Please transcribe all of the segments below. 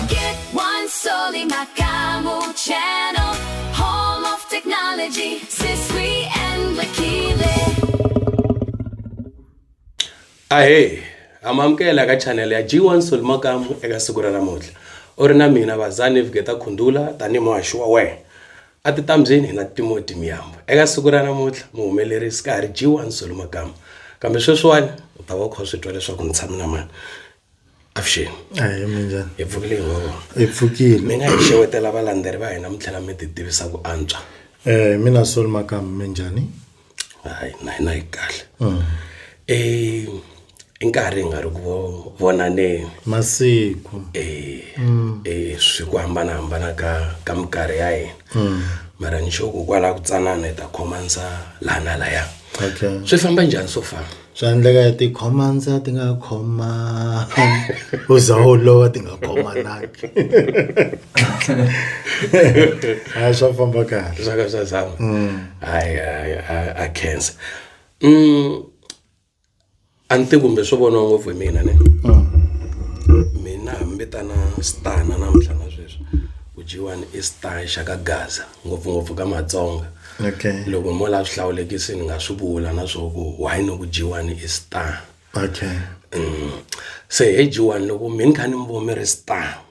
Get one Soli Makamu channel, home of technology, Siswi and Lakile. ahee amamukela eka chanele ya g1 solimakamu eka siku ra namuntlha u ri na mina vazani vigeta khundula tanihi muhaxi wa wena a ti tambyeni hi na timoti miyambo eka siku ra namuntlha muhumelerisi ka ha ri g1 solimakamu kambe sweswiwani u ta va u kha u swi twa leswaku ni tshame na mani avuxeni a hi minjhani hi pfukile hi n'we hi pfukile mi nga hi xewetela valandzeri va hina mi tlhela mi ti tivisa ku antswa eh mina solo makamu minjhani hayi na hina hi kahle mm. e i nkarhi hi nga ri ku vonaneni masiku e mm. e swi ku hambanahambana ka ka minkarhi ya hina mm. mara ni xo ku kwala ku tsanana hi ta khomanisa laha na laya okay swi famba njhani so far swa endleka ti khoma ndza ti nga khoma u za u lova ti nga khoma naki a swa famba kahle swa ka swa zama mm. hayi hayi a cancer mm a ni ti kumbe swo vona ngopfu hi mina ne mm. mina hambi tana stana namuntlha na sweswi ku dyiwani i star xa ka gaza ngopfungopfu ka matsonga okay loko mo la swihlawulekisi ni nga swi vula na swo ku why no ku jiwani i star okay mm. se he jiwani loko mi ni kha ni mi vo mi ri star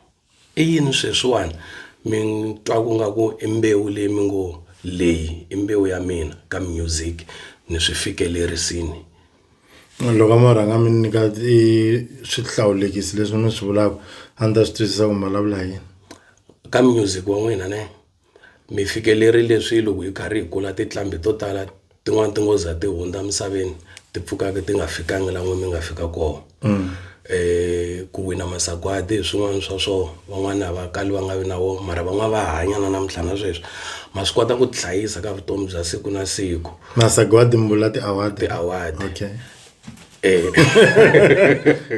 i yini sweswiwani mi twa ku nga ku i mbewu leyi mi ngo leyi i mbewu ya mina ka music ni swi fikelerisini loko mo rhanga mi nyika i swihlawulekisi leswi mi swi vulaka a ni ta swi twisisa ku mi vulavula yini ka music wa n'wina ne mi fikelerile swilo hi karhi hi kula tintlambhi to tala tin'wani ti ngo za ti hundza emisaveni ti pfukaka ti nga fikanga la n'wina mi nga fika koho mm. eh ku wina masagwadi hi swin'wana swa swo van'wana va kali va nga vi na wo mara van'wana va hanya na namuntlha na sweswi ma swi kota ku tihlayisa ka vutomi bya siku na siku masagwadi mbula ti-award ti-award okay eh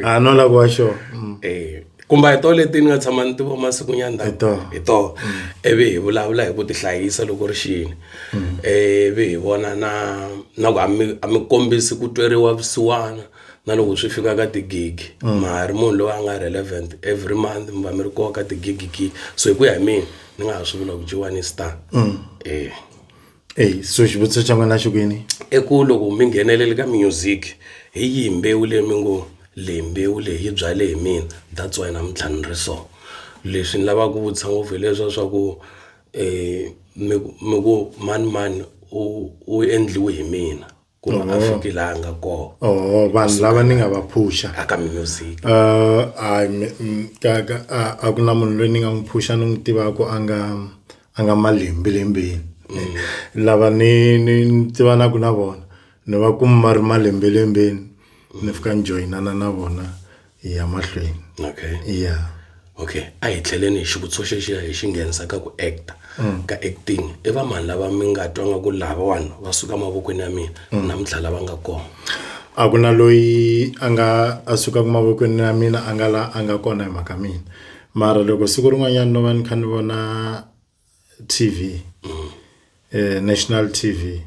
a no la kwa sho mm. eh kumba hi to leti ni nga tshama ni tivo masiku nyana hi to hi to evi hi vulavula hi ku ti hlayisa loko ri xini mm. evi hi vona na na ku a mi a mi kombisi ku tweriwa vusiwana na loko swi fika ka tigigi mm. mahari munhu loyi a nga relevant every month mi va mi ri koho ka tigigi gigi so hi ku ya hi mina ni nga ha swi vula ku jiwani star eh eyi so xivutiso xa n'wina xi kwini i ku loko mi nghenelele ka music hi yihi mbewu leyi mi ngo leyi mbewu leyi yi byale hi mina that's why namuntlha ni ri so leswi ni lavaka ku vutisa ngopfu hi leswa swa ku mi ku mi ku manimani u u endliwe hi mina. ku ri a fiki laha a nga kona oh vanhu lava ni nga va phusha aka music uh a ka ka a ku na munhu loyi ni nga n'wi phusha ni n'wi tivaka a nga a nga malembe lembeni mm. lava ni ni tivanaku na vona ni va kuma ri malembe lembeni ni fika ni joyinana na vona ya mahlweni okay ya okay a hi tlheleni hi xivutiso xexiya hi xi nghenisa ka ku actor mm. ka acting i va mani lava mi nga twa nga ku lavawani va suka mavokweni ya mina mm. namuntlha lava nga kona a ku na loyi a nga a sukaka mavokweni ya mina a nga la a nga kona hi mhaka mina mara loko siku rin'wanyana no va ni kha ni vona T_V national T_V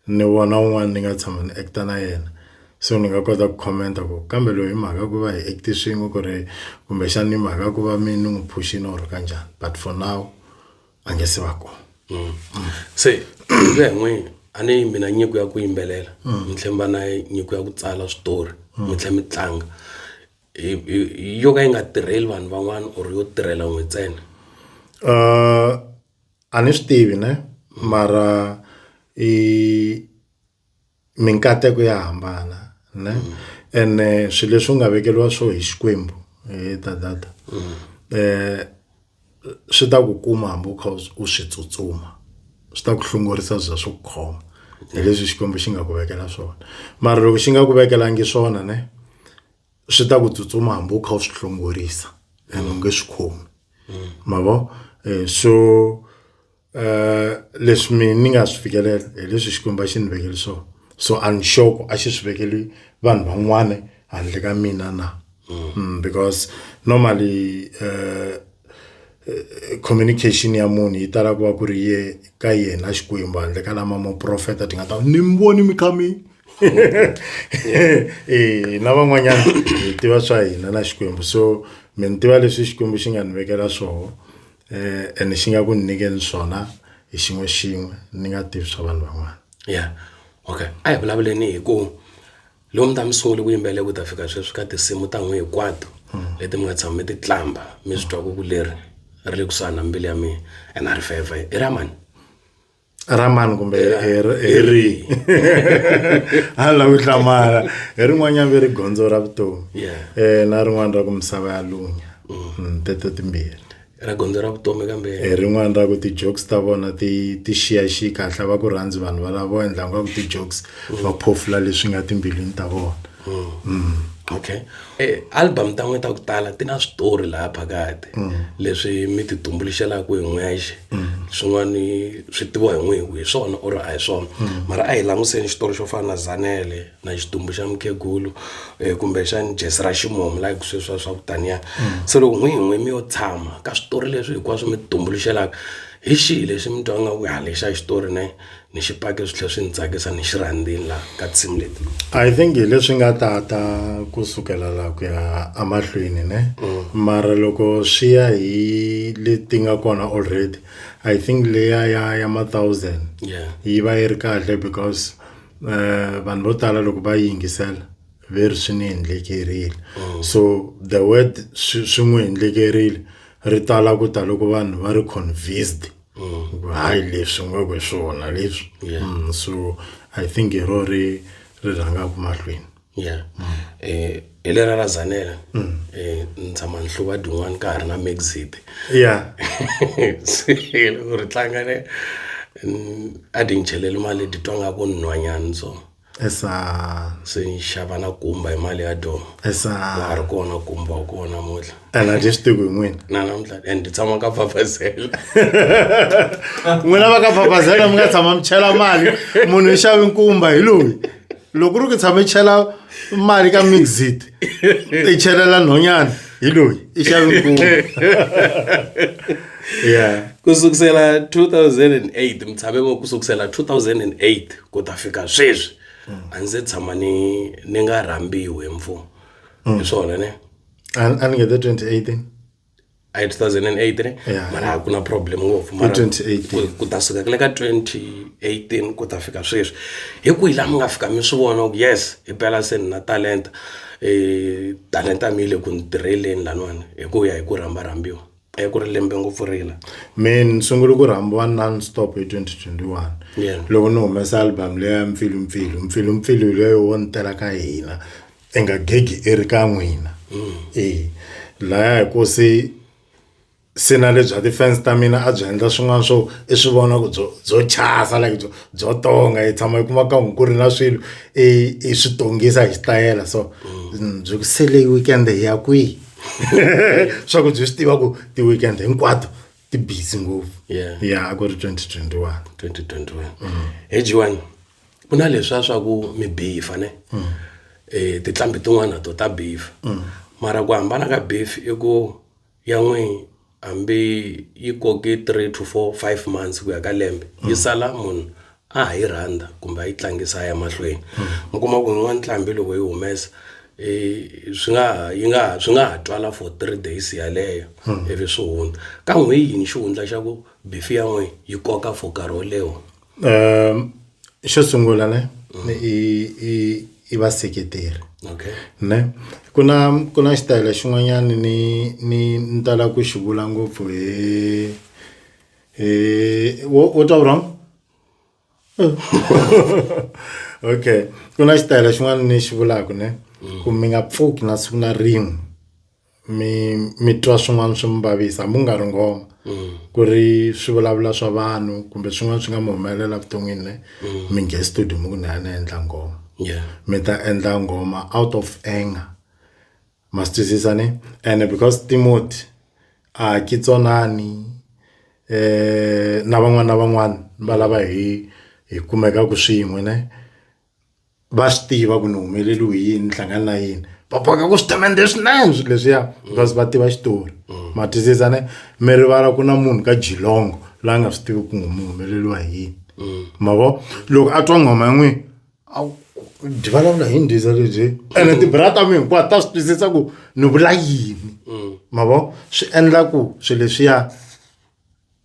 ni vona un'wana ni nga tshama ni act na yena so ni nga kota ku comment ku kambe loyi hi mhaka ku va hi act swin'we ku ri kumbexana hi mhaka ku va mina ni n'wi phuxini or ka njhani but for now a nge se va kona. Se ku ya hi n'wina a ni mina nyiko ya ku yimbelela ni tlhela ni va na nyiko ya ku tsala switori mi tlhela mi tlanga. yo ka yi nga tirheli vanhu van'wana or yo tirhela n'we ntsena uh, a ni swi tivi ne mara i minkateko ya hambana ne mm. ene eh, swilo leswi nga vekeliwa swo hi xikwembu hi eh, dadada mm. eh swi ta ku kuma hambi u kha u swi tsutsuma swi ta ku hlongorisa bya swo khoma hi leswi xikwembu xi nga ku vekela swona mara loko xi nga ku vekelangi swona ne swi ta ku tsutsuma hambi u kha u swi hlongorisa and u nge swi khomi ma vo eh, so um leswi mina ni nga swi fikelela hi leswi xikwembu a xi ni vekeli swona so a ni sure ku a xi swi vekeli vanhu van'wana handle ka mina na mm, because normally um communication ya munhu yi tala ku va ku ri ye ka yena xikwembu handle ka lama muprofeta ti nga ta ni mi voni mi kha mi e na van'wanyana hi tiva swa hina na xikwembu so mi ni tiva leswi xikwembu xi nga ni vekela swoho eh, ene xi nga ku ni nyikeni swona hi xin'we xin'we ni nga tivi swa vanhu van'wana ya okay a hi vulavuleni hi ku lomu ta mi sungule ku yimbele ku ta fika sweswi ka tinsimu ta n'wi hinkwato hmm. leti mi nga tshama mi ti tlamba mi swi twa ku ku leri ri le kusuhani na mbilu ya mina and a ri feva i ra mani ra mani kumbe hi rihi a ni lavi ku hlamala hi rin'wanyana ve ri gondzo ra vutomi um na rin'wana ra ku misava ya lunya hmm. hmm, teto timbirhi ra gondzo ra vutomi kambe hi eh, rin'wana ra ku ti-jokes ta vona ti ti xiyaxiyi kahle va ku rhandzi vanhu valavo endla nga ku ti-jokes va mm. phofula leswi nga timbilwini ta vona mm. Mm. okay eh, album ta n'wina ta ku tala ti na switori laha phakati leswi mi ti tumbuluxelaka hi n'wexe swin'wani swi tiviwa hi n'wihi hi swona or a hi swona mara a hi langutiseni xitori xo fana na zanele na xidumbu xa mukhegulu um kumbexani jesi ra ximumu like sweswiwa swa ku taniya mm. se loko n'wi hi n'wi mi yo tshama ka switori leswi hinkwaswo mi tumbuluxelaka hi xihi lexi mi twa nga ku ha lexa xitori ne ni xi pake swi tlhela swi ni tsakisa ni xi rhandzini laha ka tinsimu leti i think hi leswi nga tata ku sukela laha ku ya emahlweni ne mm. mara loko swi ya hi leti nga kona already i think leya ya ya ma thousand yi va yi ri kahle because vanhu vo tala loko va yingisela ve ri swi ni endlekerile oh. so the word swi n'wi endlekerile ri tala ku ta loko vanhu va ri convinced oh. hayi leswi nga ku swona leswi mm, so i think hi ro ri ri rhangaka mahlweni ya eh hi lera ra Zanele eh ni tshama ni hluva tin'wani ka ha ri na Mxit ya se loko ri tlanga ni a ti ni cheleli mali ni titwa nga ku ni nhwanyana so esa se ni xava na kumba hi mali ya dooh a ha ri kona kumba wa kona namuntlha. a na dye xitiko hi n'wina na namuntlha and ndzi tshama ka fafazela n'wina va ka fafazela mi nga tshama mi chela mali munhu i xavi nkumba hi loyi loko ri ku tshama i chela mali ka mixit i chelela nhonyana hi loyi i xavi nkumba ya ku sukusela 2008 mi tshame ku sukusela 2008 ku ta fika sweswi a ndzi tshama ni ni nga rhambiwi hi mfumo hi swona ne An- anenge the 28 in a hi 2008 ne Yeah. mara a ku na problem ngopfu mara 2018. ku- ku ta suka kule ka 2018 ku ta fika sweswi hi kwihi laha mi nga fika mi swi vona ku yes hi pela se ni na talenta um talenta mi yi le ku ni tirheleni laniwani hi ku ya hi ku rhamba rhambiwa e ku ri lembe ngopfu rila me ni sungule ku rhambiwa non stop hi 2021 Yeah. loko ni humesa album leya mpfilumpfilu mpfilumpfilu leyo wo ni tela ka hina i nga gegi i ri ka n'wina e laya hi ku se se na le bya ti-fans ta mina a byi endla swin'wana swo i swi vona ku byo byo chasa like byo byo tonga hi tshama hi kuma ka n'wi ku ri na swilo i i swi tongisa hi xitayela so mm, byi ku se leyi weekend hi ya kwihi swa ku byi swi tiva ku ti-weekend hinkwato ti busy ngopfu Yeah. ya a ku ri 2021 2021 hi jiwani ku na leswiya swa ku mi beef-a ne um tinqambi tin'wana to ta beef mara ku hambana ka beef i ku ya n'wini hambi yi koke three to four five months ku ya ka lembe yi sala munhu a ha yi rhandza kumbe a yi tlangisa a ya mahlweni mi kuma ku n'wana nqambi loko yi humesa um swi nga ha yi nga ha swi nga ha twala for three days yeleyo ivi swi hundza ka n'we yini xihundla xa ku beef ya n'we yi koka for nkarhi wo leha. um xo sungula ne ni i i i vaseketeri okay ne ku na ku na xitayele xin'wanyana ni ni ni tala ku xi vula ngopfu hi hi wo wo twa wrong okay ku na xitayele xin'wana ni xi vulaka ne ku mi nga pfuki na siku na rin'we. mi mi twa swin'wana swi mi vavisa hambi ku nga ri nghoma ku ri swivulavula swa vanhu kumbe swin'wana swi nga mi humelela vuton'wini ne mi nghe studio mi ku ni ya ni endla nghoma yeah mi ta endla nghoma out of anger ma swi twisisa ne and because timoti a ki tsonani na van'wani na van'wani va lava hi hi kumekaku swin'we ne. va swi tiva ku ni humeleriwe hi yini ni hlangana na yini va boheka ku swi temende swinene swilo leswiya because va tiva xitori ma twisisa ne mi rivala ku na munhu ka jilongo la nga swi tivi ku n'wi mi humeleriwa hi yini ma vo loko a twa nghoma ya n'wini a wu- byi vulavula hi ndiza lebyi ene tibra ta mi hinkwato ta swi twisisa ku ni vula yini ma vo swi endla ku swilo leswiya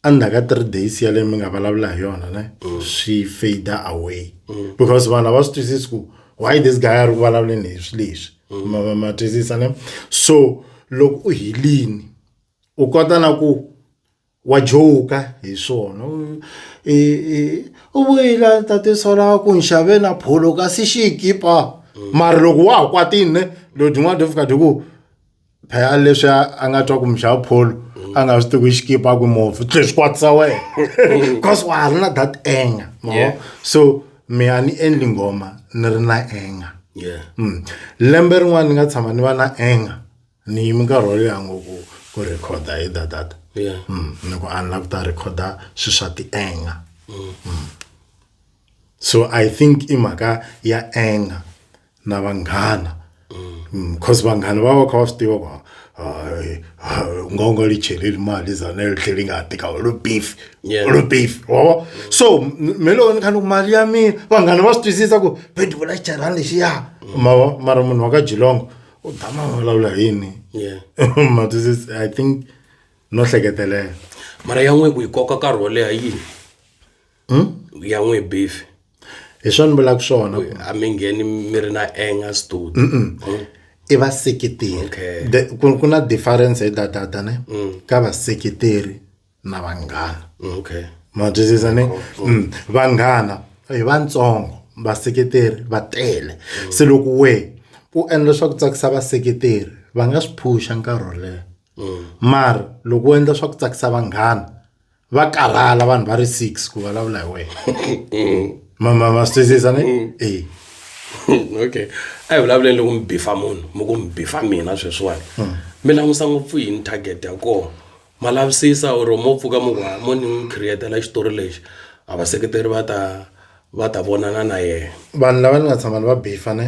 endzhaku ka three days yaleyo mi nga vulavula hi yona ne mm. swi fader away mm. because vanhu a va swi twisisi ku why this guy a ri ku vulavuleni hi swi leswi mm. ma twisisa ne so loko u helini u kota na ku wa joka hi swona u vuyile tate sola ku nxave na pholo kasi xikipa mara loko wa ha kwatini ne lodin'wana do fika di ku phela leswi a nga twa ku mixava pholo a nga swi tivi xikipa a ku movhi tlhe swi kwatisa wena because wa ha ri na that anger yeah. so mi a ni endli nghoma ni ri na anger yeah. mm. lembe rin'wana ni nga tshama ni va na anger ni yimi nkarhi wo leha ngopfu ku rhekhoda hi dadata yeah. mm. ni ku a ni la ku ta rhekhoda swilo swa ti-anger mm. mm. so i think i mhaka ya anger na vanghana because mm, vanghana va va kha va swi tiva va u nga u nga li cheleli mali zana yo tlhela yi nga ha tika lo beef lo beef wava so me loko ni kha ni ku mali ya mina vanghana va swi twisisa ku bedi vula xicharhani lexiya mava mara munhu wa ka jilongo u dama vulavula hi yini ma twisisa i think no hleketelela mara ya n'we ku yi koka nkarhi wo leha yini hmm? ya n'wi beef hi swona ni vulaka swona a mi ngheni mi ri na anger stud i vaseketeri ku na difference hi datata ne mm. ka vaseketeri na vanghana okay ma twisisa ne mm. vanghana hi vantsongo vaseketeri va tele mm. se loko we u endla swa ku tsakisa vaseketeri va nga swi phusha nkarhi wo leha mara loko u endla swa ku tsakisa vanghana va karhala vanhu va ri six ku vulavula hi wena mm. mama ma swi twisisa ni mm. e okay a hi vulavuleni loko mi bifa munhu mi ku mi bifa mina sweswiwani mm. mi langusa ngopfu yini target ya kona ma lavisisa or mo pfuka mi ku mo ni n'wi createla xitori lexi a vaseketeri va ta va ta vonana na yena vanhu lava ni nga tshama ni va bifa ne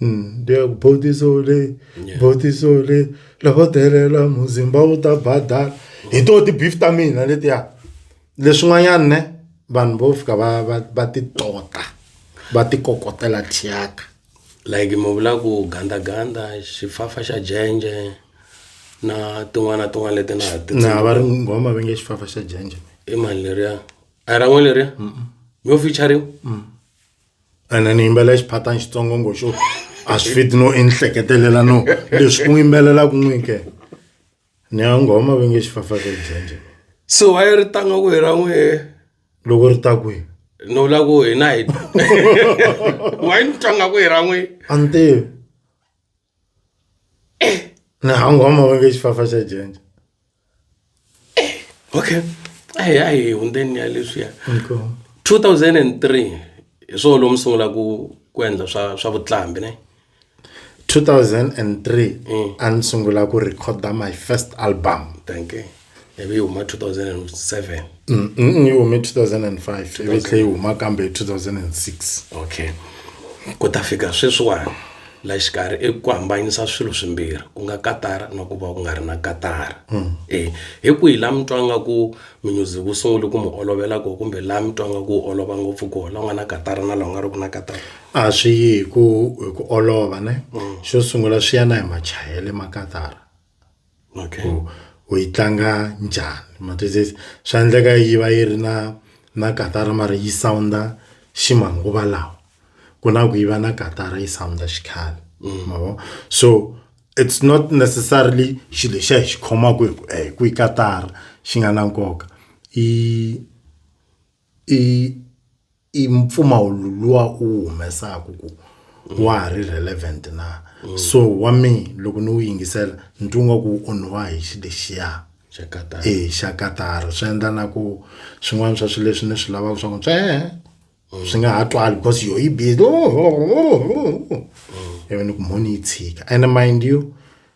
Mm, dia bodiso le Yeah. bodiso le loko delela muzimba wu ta badala hi to ti-beef ta mina letiya leswin'wanyana ne vanhu vo fika va va va ti tota va ti kokotela thyaka like mi vula ku gandaganda xifafa xa jenje na tin'wana na tin'wana leti na ha ti na va ri nghoma va nge xifafa xa jenje i mali leriya a hi ra n'we leriya mi yo featuring ene ni yimbelela xiphatani xitsongo ngo xo a swi fiti no i ni hleketelela no leswi ku yimbelelaka n'wi ke ni ya nghoma va nge xifafazelo byenje so a yi ri tanga ku hi ra n'wi loko ri ta kwihi no la ku hina hi wa yi ni tanga ku hi ra n'wi a ni tivi hangu hama vange xifafa xa janja okay ayi ayi hundzeni ya leswiya 2003 hi swona lomu sungula ku ku endla swa swa vutlambi ne 2003 mm. a ni sungula ku recorda my first album thank you ivi yi huma 2007 mm, mm, yi hume 2005 ivi tlhe yi huma kambe hi 2006 okay ku ta fika sweswiwani la xikarhi i ku hambanyisa swilo swimbirhi ku nga katara na ku va ku nga ri na katara hmm. e hi ku hi la mi twa nga ku minyuzi ku sungule ku mi olovela ko kumbe la mi twa nga ku olova ngopfu ko la nga na katara na la nga ri ku na katara a swi yi hi ku hi ku olova ne hmm. xo sungula swi ya na hi machayele ma katara okay u, u yi tlanga njhani ma twisisa swa endleka yi va yi ri na na katara mara yi sound xi manguva lawa ku na ku yi va na katara yi sound xikhale mm. ma vo so it's not necessarily xilo lexiya hi xi khomaka hi ku eh, ku yi katara xi nga na nkoka i i i mpfumawulo luwa u wu humesaka ku wa ha ri relevant na so wa me loko ni wu yingisela ni twa nga ku wu onhiwa hi xi lexiya Chakata. e xa katara swi endla na ku swin'wana swa swilo leswi ni swi lavaka swa ku tswee swi nga ha twali because yo yi busy ivi ni ku mhoni yi tshika ene mind you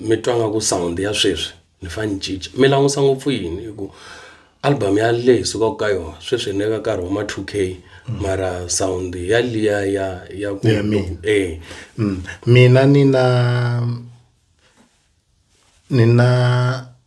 mi twa nga ku sound ya sweswi ni fa ni cinca mi langusa ngopfu yini hi ku album ya le hi sukaka ka yona sweswi hi le ka nkarhi wa ma 2 k mara sound ya liya ya ya ku Ya mina. eh Mm. mina nina nina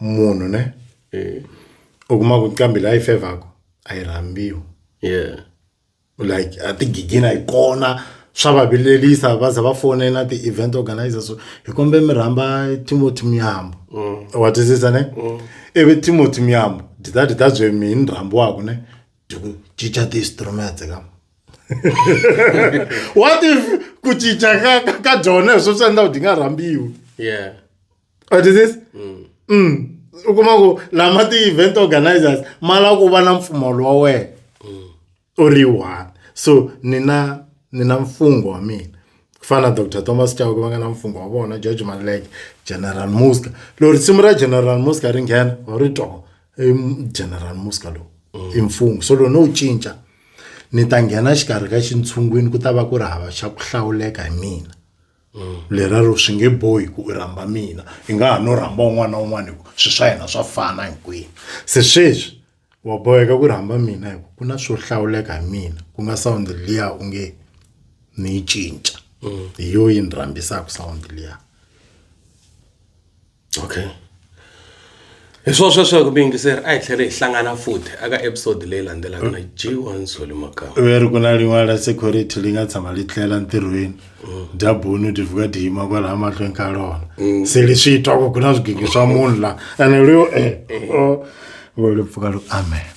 munhu ne mm. u kuma ku qambi la yi fevhaku a yi rhambiwi yeah like a ti gigina hi kona swa va vilelisa va za va fonela ti-event organizers so hi kombe mi rhamba timothy muyambo mm. wa twisisa ne mm. ivi timothy muyambo dita dita bye mi ni rhambiwaku ne diku cinca ti-instrument ka what if ku cinca ka ka dyona hi swo swi endla ku di nga rhambiwi yeah u twisisa mm. mm. u kuma ku lama ti-event organizers ma lava ku va na mpfumawulo wa wena mm. u ri one so ni na ni na mfungho wa mina ku fana na dr thomas chauke va nga na mfungho wa vona george maleke general muska loko risimu ra general muska ri nghena wa ri toho i general muska lowu mm. i mfungho so loko no wu cinca ni ta nghena xikarhi ka xintshungwini ku ta va ku ri hava xa ku hlawuleka hi mina leraro swi nge bohi ku u rhamba mina i nga ha no rhamba un'wana na un'wana hikuva swilo swa hina swa fana hinkwenu se sweswi wa boheka ku rhamba mina hikuva ku na swo hlawuleka hi mina ku nga sawundi liya u nge ni yi cinca hi yo yi ni rhambisaka sawundi liya okay hi swo sweswo hi ku mi yingiseri a hi tlhele hi hlangana futhi aka episode leyi landzelaka na g1 soli makama ve ri ku na lin'wana ra security li nga tshama li tlela ntirhweni dyabunu ti vuka ti yima kwalaha mahlweni ka rona se leswi yi twa ku ku na swigigi swa munhu la ene leyo e o vo ri pfuka loko amen